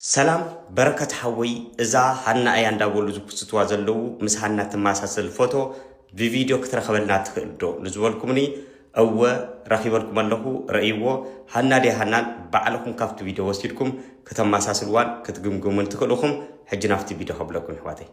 ሰላም በረከት ሓወይ እዛ ሃና እያ እንዳበሉ ዝፕስትዋ ዘለዉ ምስ ሃና ትማሳሰል ፎቶ ብቪድዮ ክትረክበልና ትክእል ዶ ንዝበልኩምኒ እወ ረኪበልኩም ኣለኩ ረእይዎ ሃና ድያ ሃናን ባዕልኩም ካብቲ ቪድዮ ወሲድኩም ክተማሳስልዋን ክትግምግሙን ትክእልኩም ሕጂ ናብቲ ቪድዮ ከብለኩም ይሕዋተይ።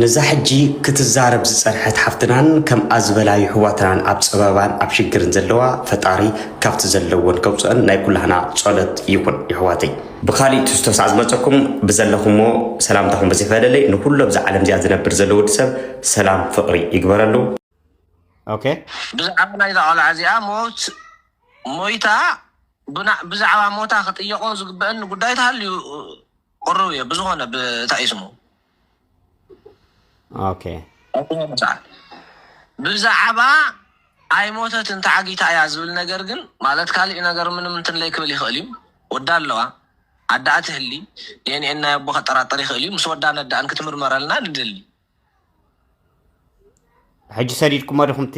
ነዛ ሕጂ ክትዛረብ ዝጸንሐት ሓፍትናን ከምኣ ዝበላ ይሕዋትናን ኣብ ጸበባን ኣብ ሽግርን ዘለዋ ፈጣሪ ካብቲ ዘለወን ከውጽኦን ናይ ኩላህና ጾሎት ይኩን ይሕዋተይ። ብካሊእ ትሕዝቶ ሳዕ ዝመጸኩም ብዘለኩሞ ሰላምታኩም ብዝፈለለይ ንኩሉ ኣብዛ ዓለም እዚኣ ዝነብር ዘሎ ወዲ ሰብ ሰላም ፍቅሪ ይግበረሉ። ኦኬ። ብዛዕባ ናይዛ ቆልዓ እዚኣ ሞት ሞይታ ብዛዕባ ሞታ ክጥየቆ ዝግበእኒ ጉዳይ ተሃልዩ ቅሩብ እየ ብዝኮነ ብእታእዩ ስሙ ብዛዕባ ኣይሞተትን ተዓጊታ እያ ዝብል ነገር ግን ማለት ካሊእ ነገር ምንም እንትን ለይክብል ይኽእል እዩ። ወዳ ኣለዋ ኣደኣ ትህሊ ዴንኤን ናይ ኣቦ ከጠራጠር ይኽእል እዩ። ምስ ወዳ ነዳእን ክትምርመረልና ንደሊ። ሕጂ ሰዲድኩሞ ዲኹም እቲ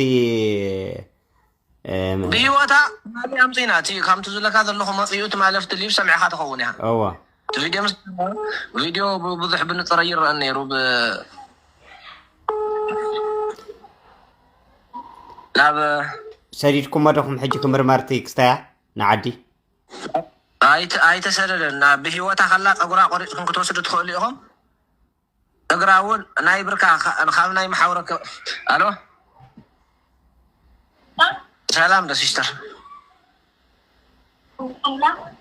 ብሂወታ ትማሊ ኣምጺና እቲ ከምቲ ዝብለካ ዘለኹ መጺኡ ትማሊ ኣብቲ ሊቭ ሰሚዕኻ ትኸውን ኢኻ እወ እቲ ቪድዮ ምስ ቪድዮ ብዙሕ ብንጽር ኣይረኣን ነይሩ ብ ናብ ሰዲድኩሞ ዶኹም ሕጂ ክምርመርቲ ክስታያ ንዓዲ ኣይተ- ኣይተሰደደን ናብ ብሂወታ ከላ ፀጉራ ቆሪፅኩም ክትወስዱ ትኽእሉ ኢኹም እግራ እውን ናይ ብርካ ካብ ናይ መሓውረ ኣሎ ሰላም ዶ ሲስተር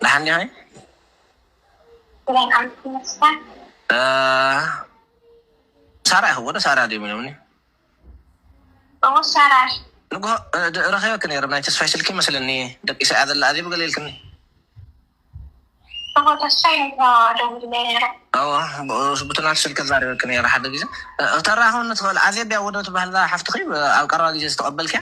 ደሓን ዲኺ ሳራ ይኸውን ሳራ ድዮም ኢሎምኒ ንግሆ ረኺበኪ ነይረ ናይ ተስፋይ ስልኪ ይመስለኒ ደቂሳ እያ ዘላ ኣዜብ ገለ ኢልክኒ እወ ብቲ ናቱ ስልኪ ተዛሪበኪ ነይረ ሓደ ግዜ ክተራኽብኒ ትኽእል ኣዜብ ድያ ወዶ ትበሃል እዛ ሓፍትኺ ኣብ ቀረባ ግዜ ዝተቐበልክያ?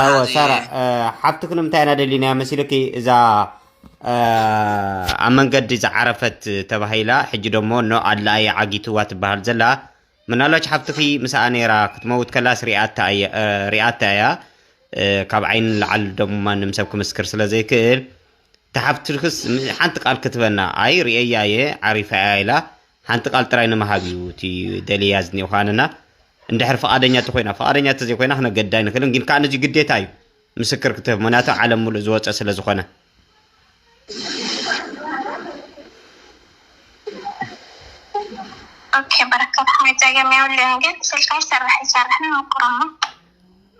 ኣዎ ሳራ ሓፍትክ ንምንታይ ኢና ደሊና መሲልኪ እዛ ኣብ መንገዲ ዝዓረፈት ተባሂላ ሕጂ ደሞ ኖ ኣድላኣየ ዓጊትዋ ትበሃል ዘላ ምናልባች ሓፍትኺ ምስኣ ነይራ ክትመውት ከላስ ሪኣታ እያ ካብ ዓይኒ ንላዓል ደሞ ማንም ሰብ ክምስክር ስለ ዘይክእል ተሓፍትክስ ሓንቲ ቃል ክትበና ኣይ ርእየያ እየ ዓሪፋ እያ ኢላ ሓንቲ ቃል ጥራይ ንምሃብ እዩ እቲ ደልያ ዝኒኦ ከዓ ንና እንድሕር ፍቓደኛ እንተኮይና ፍቓደኛ እንተዘይኮይና ክነገድድ ኣይንኽእልን ግን ከዓ ነዚ ግዴታ እዩ ምስክር ክትህብ ምክንያቱ ዓለም ሙሉእ ዝወፀ ስለ ዝኾነ ኦኬ በረከት ሓሜት ጸገም የብሉን ግን ስልካ ይሰርሕ ይሰርሕን ሞክሮሞ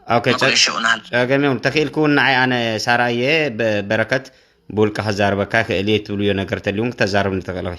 ኦኬ ጸ- ተበላሽኡናል ጸገም የብሉን ተኽኢልክ እውን ንዓይ ኣነ ሳራ እየ ብ- በረከት ብውልቂ ከዛርበካ ይኽእል እየ ትብልዮ ነገር ተልውን ክተዛርብኒ ትኽእል ኢኺ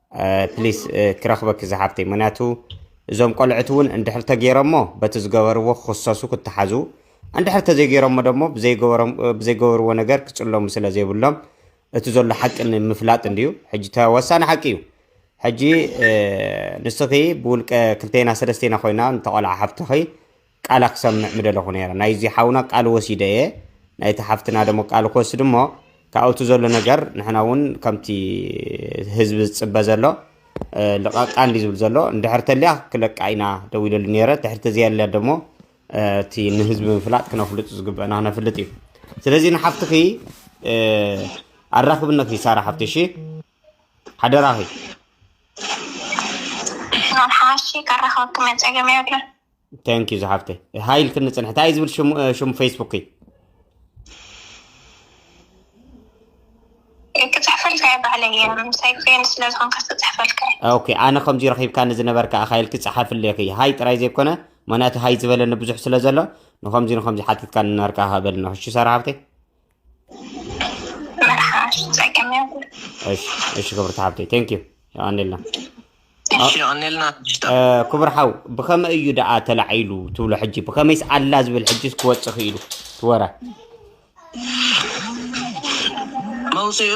ፕሊስ ክረኽበኪ ዝሓፍተይ ምክንያቱ እዞም ቆልዑት እውን እንድሕር ተገይሮሞ በቲ ዝገበርዎ ክኽሰሱ ክተሓዙ እንድሕር ተዘይገይሮሞ ደሞ ብዘይገበርዎ ነገር ክፅለሙ ስለ ዘይብሎም እቲ ዘሎ ሓቂ ንምፍላጥ እንድዩ ሕጂ ተወሳኒ ሓቂ እዩ ሕጂ ንስኺ ብውልቀ ክልተና ሰለስተና ኮይና ንተቆልዓ ሓፍትኺ ቃላ ክሰምዕ ምደለኹ ነይረ ናይዚ ሓውና ቃል ወሲደ እየ ናይቲ ሓፍትና ደሞ ቃል ክወስድ እሞ ካብኡ እቲ ዘሎ ነገር ንሕና እውን ከምቲ ህዝቢ ዝፅበ ዘሎ ልቐቃ እንዲ ዝብል ዘሎ እንድሕር ተልያ ክለቃ ኢና ደው ኢለሉ ነይረ ትሕርቲ ዘየለ ደሞ እቲ ንህዝቢ ምፍላጥ ክነፍልጡ ዝግበአና ክነፍልጥ እዩ ስለዚ ንሓፍትኺ ኣራክብነት ይሳራ ሓፍቲ እሺ ሓደራኺ ናብ ሓሺ ከራኸብክመ ፀገም የብለን ታንኪዩ ዝሓፍተይ ሃይ ኢልክኒ ፅንሒ እንታይ ዝብል ሽሙ ፌስቡክ እዩ ክፅሕፈልካ እየ ባዕለይ እየ ምሳይ ኮይን ስለ ዝኾንካ ክፅሕፈልካ እየ ኦኬ ኣነ ከምዚ ረኺብካኒ ዝነበርካ ኣኻ ኢልኪ ፀሓፍለ ኢኺ ሃይ ጥራይ ዘይኮነ ምክንያቱ ሃይ ዝበለኒ ብዙሕ ስለ ዘሎ ንከምዚ ንከምዚ ሓቲትካኒ ነበርካ በልኒ ክሹ ሰራ ሃብተይ እሺ ክብርቲ ሓብተይ ቴንክ ዩ የቀኒልና ክቡር ሓው ብኸመይ እዩ ደኣ ተላዒሉ ትብሎ ሕጂ ብኸመይስ ኣላ ዝብል ሕጂስ ክወፅእ ክኢሉ ትወረ መውፅኡ